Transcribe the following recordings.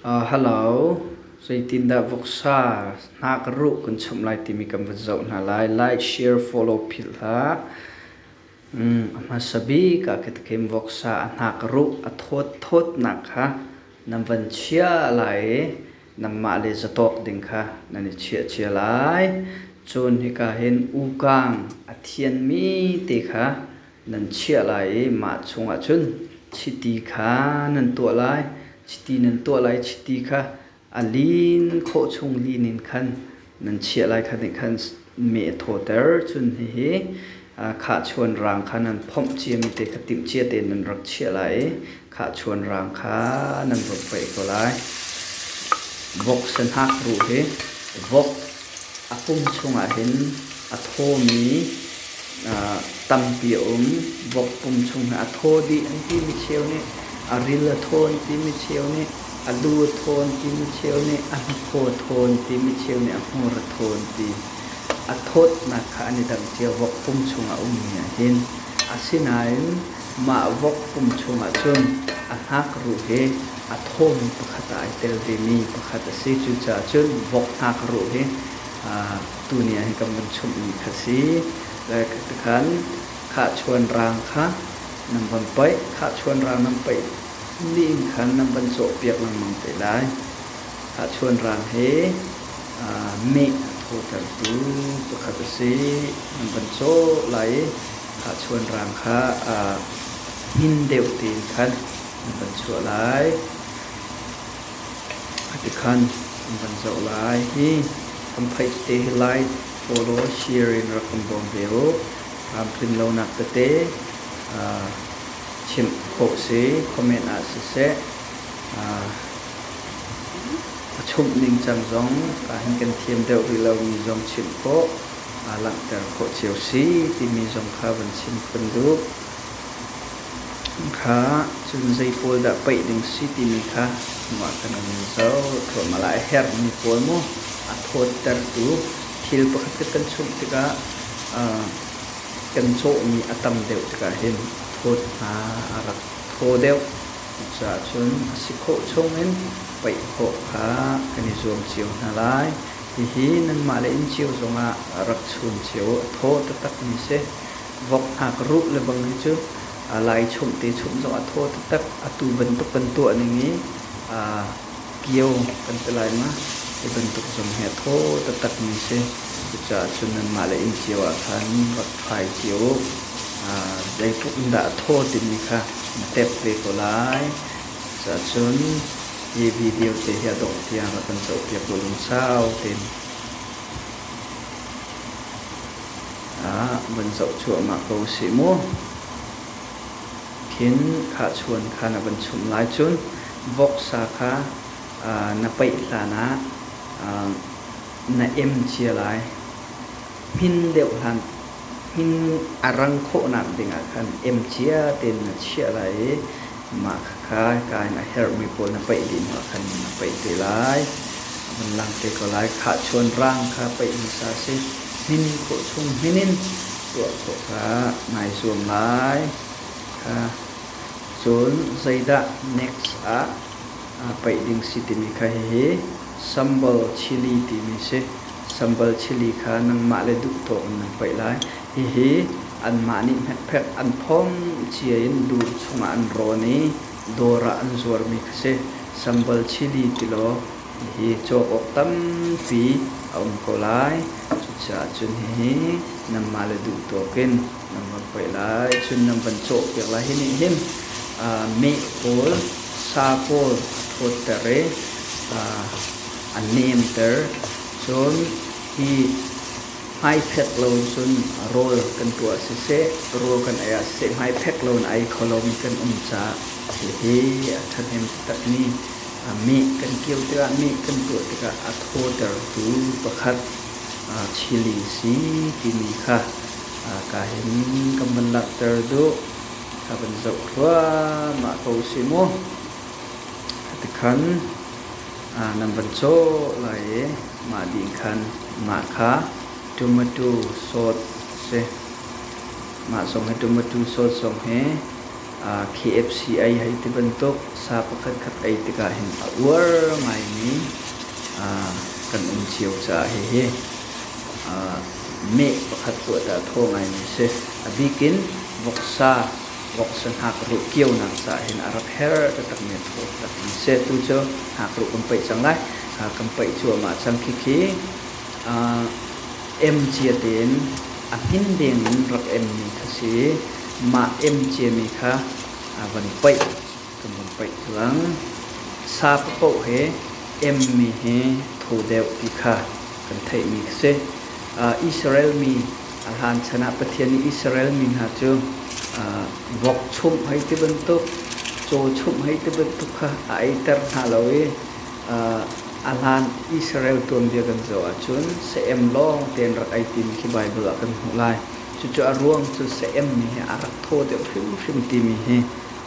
Hello, zeitindah voksa hna ka ruh kan chawmh lai timi kan va zoh hna lai. Like, share, follow philh hlah. A hmasa bik ah ka theim voksa a hna ka ruh a thawtthawt nak kha nan van chia lai i nanmah le zatawk ding kha nan i chiahcia lai. Cun hika hin ukang a thianmi te kha nan chiah lai i mah chungah cun chiti kha nan tuah lai. Chiti nan tuah lai, chiti kha a lin khawh chung lin in khan nan chiah lai kha nih khan mee a thawter. Cun hihi khahchuan raang kha nan phomh ciami te kha timhcia tein nan rak chiah lai i khahchuan rang kha nan vun paih ko lai vok sehnak ruh hi vok a pum chungah hin a thawmi tampi a um vok pum chung a thaw dih an timi cheu nih a ril a thaw an timi cheu nih a lu a thaw an timi cheu nih a hnakhaw thaw an timi cheu nih a hmur a thaw an ti a thawtnak kha an i dang cio vok pum chung a ummi ah hin asinain Mah vok pum chungah cun a hnakruh hi a thawmi pakhat ah ai tel vemi pakhat a si. Cucaah cun vok hnakruh hi tuni ahhin kan vun chumhmi kha si. Tikhan khahchuan raang kha nan van paih. Khahchuan raang nan paih ni in khan nan van cawhpiak lengmang te lai. Khahchuan raang hi meh a thawtertu pakhat a si. Nan van cawh lai i Tahchuan rang kha hmin deuh tein khan an van chuah lai. Tikhan an van zoh lai. Hi kan phaih te hi lai follow, share in rak kan bawm ve u. Tlamtlin lonak tete chimh khawh si, comment ah siseh, a chumh ningcang zong ahhin kan thiam deuh rih lomi zong chimh khawh. aa langhter khawh cio si timi zong kha van chim phun duh. Kha cun zei pawl dah paih ding si timi kha mah kan in zoh thluahmah lai. A herhmi pawl maw a thawttertu thil pakhat cu kan chumh tikah kan cawhmi a tam deuh tikah hin a thawt hna, a rak thaw deuh. Cucaah cun a si khawh chungin paih khawh kha kan i zuam cio hna lai. Hihi nanmah le inn cio zongah rak chum cio u, a thaw taktakmi si. Vok hngakruh lebang hi cu lai chumh te chumh zongah a thaw taktak. Atu bantuk kan tuahning i aa kio kan ti lai ma? Hi bantuk zong hi a thaw taktakmi si. Cucaah cun nanmah le inn cio ah khan rak kai cio u. Zeitluk in dah a thaw timi kha na tep ve ko lai. Cuahcun hi video te hi a dongh tiang a kan cawnpiak u lungsau tein. Ah, van zoh cuahmah ko sih mu. Khin khahchuan kha na van chumh lai cun voksa kha aa, na paih hlan ah aa, na em cia lai. Hmin deuh hlan a rang khawhnak dingah khan emcia tein na chiah lai i mah khakha ka in a herhmi pawl na paih dih hnuah khan na paih te lai. A vun lang te ko lai. Khahchuan rang kha paih hmasa si. Hmin khawh chung hmin in tuah khawh kha nai zuam lai. Kha cun zeidah next ah aa paih ding si timi kha hihi sambal chili timi si. Sambal chili kha nangmah le duhtaw in nan paih lai. Hihi anmah nih hmekphek an phawm cia in dur chungah an rawn i dawr ah an zuarmi kha si. Sambal chili tilaw hihi cawk awk tampi a um ko lai. Cucaah cun hihi nanmah le duhtaw in Nan van hoih lai, cun nan van cawhpiak lai. Hi nih hin meh pawl, sa pawl a thawtter i a nemter. Cun hi hmaiphek lo in cun rawl kan tuah siseh, rawl kan ei ah siseh, hmaiphek lo in ei kho lomi kan um caah hihi a ṭhahnem takmi meh kan kio tikah, meh kan tuah tikah a thawtertu pakhat chili si timi kha Ka hin kan van langhter duh. Ka van zoh hluahmah ko si mu. Tikhan nan van cawh lai i mah ding khan mah kha tumatu sawt a si. Mah zong hi tumatu sawt zong hi KFC ei hei ti bantuk sa pakhatkhat ei tikah hin a uar ngaimi kan um cio caah hihi meh pakhat tuahdah thaw ngaimi a si. A bikin voksa, voksa hnakruh kionak caah hin a rak her taktakmi a thaw taktakmi a si. Tu cu hnakruh kan paih cang lai. Kan paih cuahmah cang khikhi. Emcia tein a hmin dengin rak emmi kha si, mah emciami kha van paih, kan vun paih cuang. Sap paoh he emmi hi tho deuh ti kha kan theihmi khi si. Israel mi a hlan chan ah Pathian nih Israel mi hna cu vok chumh hei ti bantuk, caw chumh hei ti bantuk kha a eiter hna lo i A hlan Israel tuanbia kan zoh ahcun seem lawng tein rak ei timi khi Baibal ah kan hmuh lai. Cucu a ruang cu seemmi hi a rak thaw deuh hrimhrim timi hi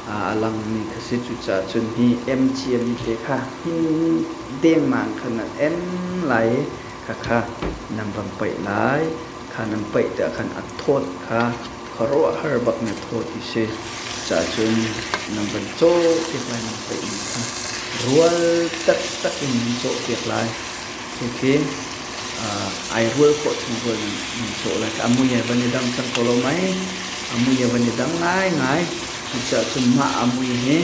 a langmi kha si. Cucaah cun hi em ciami te kha hmin dengmang kha nan em lai i khakha nan van paih lai. Kha nan paih tiah khan a thawt kha khuaruahhar bak na thaw ti si cahcun nan van cawpiak lai mang pei in kha rual taktak in nan cawpiak lai khi ai rual khawh chung rual nan, nan cawh lai ka amui he van i dang cang ko lo mai amui he van i dang ngaingai cucahcun mah amui hi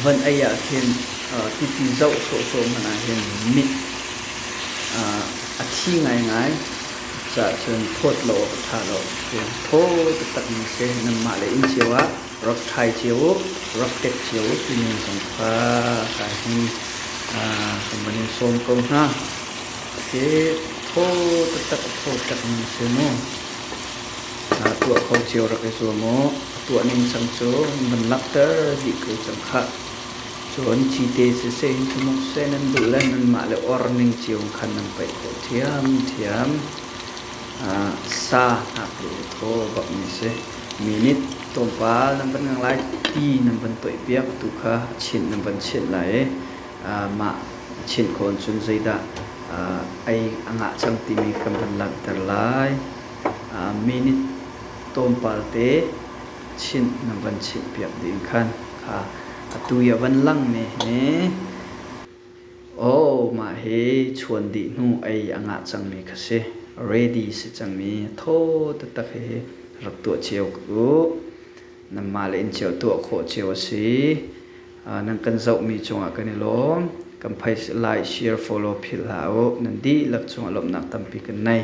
van ei ah khin tipi zoh sawhsawh hmanh ah hin mit a thi ngaingai Cahcun phawt law ka thah law ka hriam. Thaw taktak in a si. Nanmah le inn cio ah rak ṭhai cio u, rak ṭek cio u timi zong kha ka hin kan van in sawm ko hna. Hi thaw taktak a thaw hrengmi si mu. Tuah kho cio rak i zuam u. A tuah ningcang cu an van langhter dih ko cang khah. Cu an cite siseh in sihmawhseh nan duh le nanmah le orning cio in khan nan paih khawh ṭhiamṭhiam. Ah, sa ngaknu le thaw bak mi a si. Mi nih tlawmpal nan van ngang lai ti nan van toihpiak tu kha a chinh nan van chinh lai i ah, mah a chinh khawh cun zeidah ah, ei a ngah cang timi kan van langhter lai. Ah, mi nih tlawmpalte chinh na van chimhpiak ding khan kha atu i a van langmi hi oh mah hi chuan dih hnu ei a ngah cangmi kha si ready si cangmi tho taktak hi rak tuah cio u nanmah le in cio tuah khawh cio a si nan kan zohmi cungah kan i lawm kan phai lai share follow philh hlah u nan dihlak cungah lawmhnak tampi kan nei